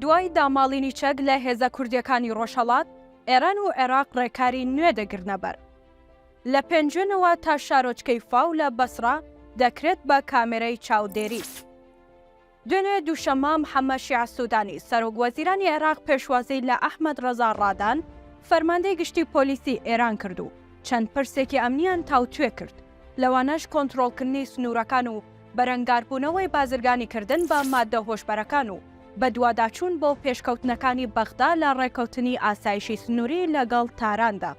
دوای داماڵینی چەک لە هێزە کوردییەکانی ڕۆژهەڵات، ئێران و عێراق ڕێکاری نوێ دەگرنەبەر. لە پێنجوێنەوە تا شارۆچکەی فاو لە بەسڕە دەکرێت بە کامێرای چاودێری. دوێنێ دووشەممە، محەممەد شیاع سوودانی، سەرۆک وەزیرانی عێراق پێشوازی لە ئەحمەد ڕەزا ڕادان، فەرماندەی گشتی پۆلیسی ئێران کرد و چەند پرسێکی ئەمنییان تاوتوێ کرد. لەوانەش کۆنترۆڵکردنی سنوورەکان و بەرەنگاربوونەوەی بازرگانیکردن بە ماددە هۆشبەرەکان و بەدواداچوون بۆ پێشکەوتنەکانی بەغدا لە ڕێککەوتنی ئاسایشی سنووری لەگەڵ تاراندا.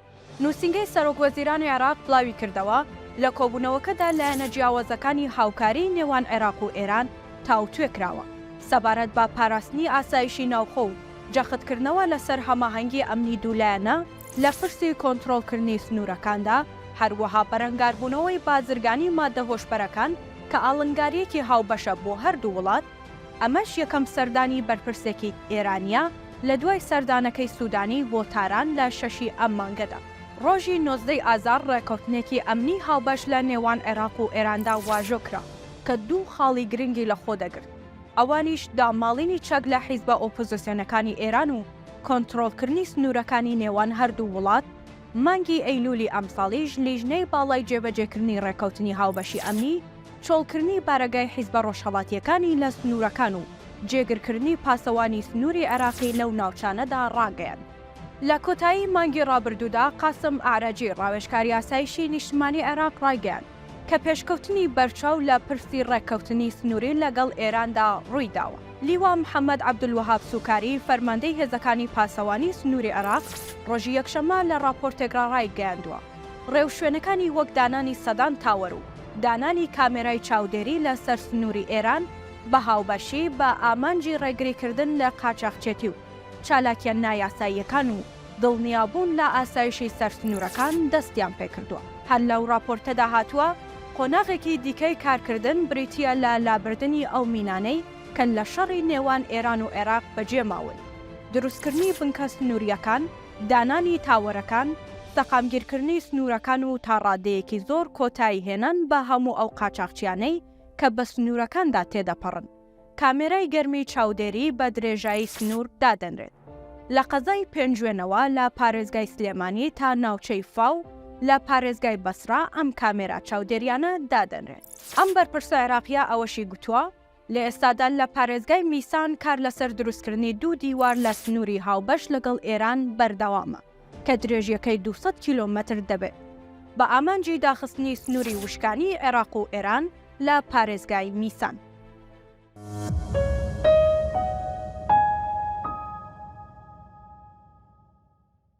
نووسینگەی سەرۆکوەزیرانی عێراق بڵاویکردەوە، لە کۆبوونەوەکەدا لایەنە جیاوازەکانی هاوکاریی نێوان عێراق و ئێران تاوتوێ کراوە سەبارەت بە پاراستنی ئاسایشی ناوخۆ و جەختکردنەوە لەسەر هەماهەنگی ئەمنی دوولایەنە لە پرسی کۆنترۆڵکردنی سنوورەکاندا، هەروەها بەرەنگاربوونەوەی بازرگانی ماددە هۆشبەرەکان کە ئاڵنگارییەکی هاوبەشە بۆ هەردوو وڵات، ئەمەش یەکەم سەردانی بەرپرسێکی ئێرانییە لە دوای سەردانەکەی سوودانی بۆ تاران لە شەشی ئەم مانگەدا. ڕۆژی نۆزدە ی ئازار ڕێککەوتنێکی ئەمنی هاوبەش لە نێوان عێراق و ئێراندا واژۆ کرا کە دوو خاڵی گرنگی لەخۆ دەگرت، ئەوانیش داماڵینی چەک لە حیزبە ئۆپۆزسیۆنەکانی ئێران و کۆنترۆڵکردنی سنوورەکانی نێوان هەردوو وڵات، مانگی ئەیلوولی ئەمساڵیش لیژنەی باڵای جێبەجێکردنی ڕێککەوتنی هاوبەشی ئەمنی، چۆڵکردنی بارەگای حیزبە ڕۆژهەڵاتییەکانی لە سنوورەکان و جێگرکردنی پاسەوانی سنووری عێراقی لەو ناوچانەدا ڕاگەیاند. لە کۆتایی مانگی ڕابردوودا قاسم ئەعرەجی، ڕاوێژکاری ئاسایشی نیشتمانی عێراق ڕایگەیاند، کە پێشکەوتنی بەرچاو لە پرسی ڕێککەوتنی سنووری لەگەڵ ئێراندا ڕووی داوە. لیوا محەممەد عەبدولوەهاب سوکاری، فەرماندەی هێزەکانی پاسەوانی سنووری عێراق، ڕۆژی یەکشەممە لە ڕاپۆرتێکڕا ڕایگەیاندووە، ڕێوشوێنەکانی وەک دانانی سەدان تاوەر و دانانی کامێرای چاودێری لە سەر سنووری ئێران بە هاوبەشی بە ئامانجی ڕێگریکردن لە قاچاخچێتی و چالاکییە نایاساییەکان و دڵنیابوون لە ئاسایشی سەرسنوورەکان دەستیان پێکردووە. هەر لەو ڕاپۆرتەدا هاتووە، قۆناغێکی دیکەی کارکردن بریتییە لە لابردنی ئەو مینانەی کە لە شەڕی نێوان ئێران و عێراق بەجێ ماون، دروستکردنی بنکە سنوورییەکان، دانانی تاوەرەکان، سەقامگیرکردنی سنوورەکان و تا ڕادەیەکی زۆر کۆتاییهێنان بە هەموو ئەو قاچاخچییانەی کە بە سنوورەکاندا تێدەپەڕن. کامێرای گەرمی چاودێری بە درێژایی سنوور دادەنرێت لە قەزای پێنجوێنەوە لە پارێزگای سلێمانی تا ناوچەی فاو لە پارێزگای بەسڕا ئەم کامێرا چاودێریانە دادەنرێن. ئەم بەرپرسە عێراقییە ئەوەشی گوتووە، لە ئێستادا لە پارێزگای میسان کار لەسەر دروستکردنی دوو دیوار لە سنووری هاوبەش لەگەڵ ئێران بەردەوامە. کە درێژیەکەی دوو سەد کیلۆمەتر دەبێت، بە ئامانجی داخستنی سنووری وشکانیی عێراق و ئێران لە پارێزگای میسان.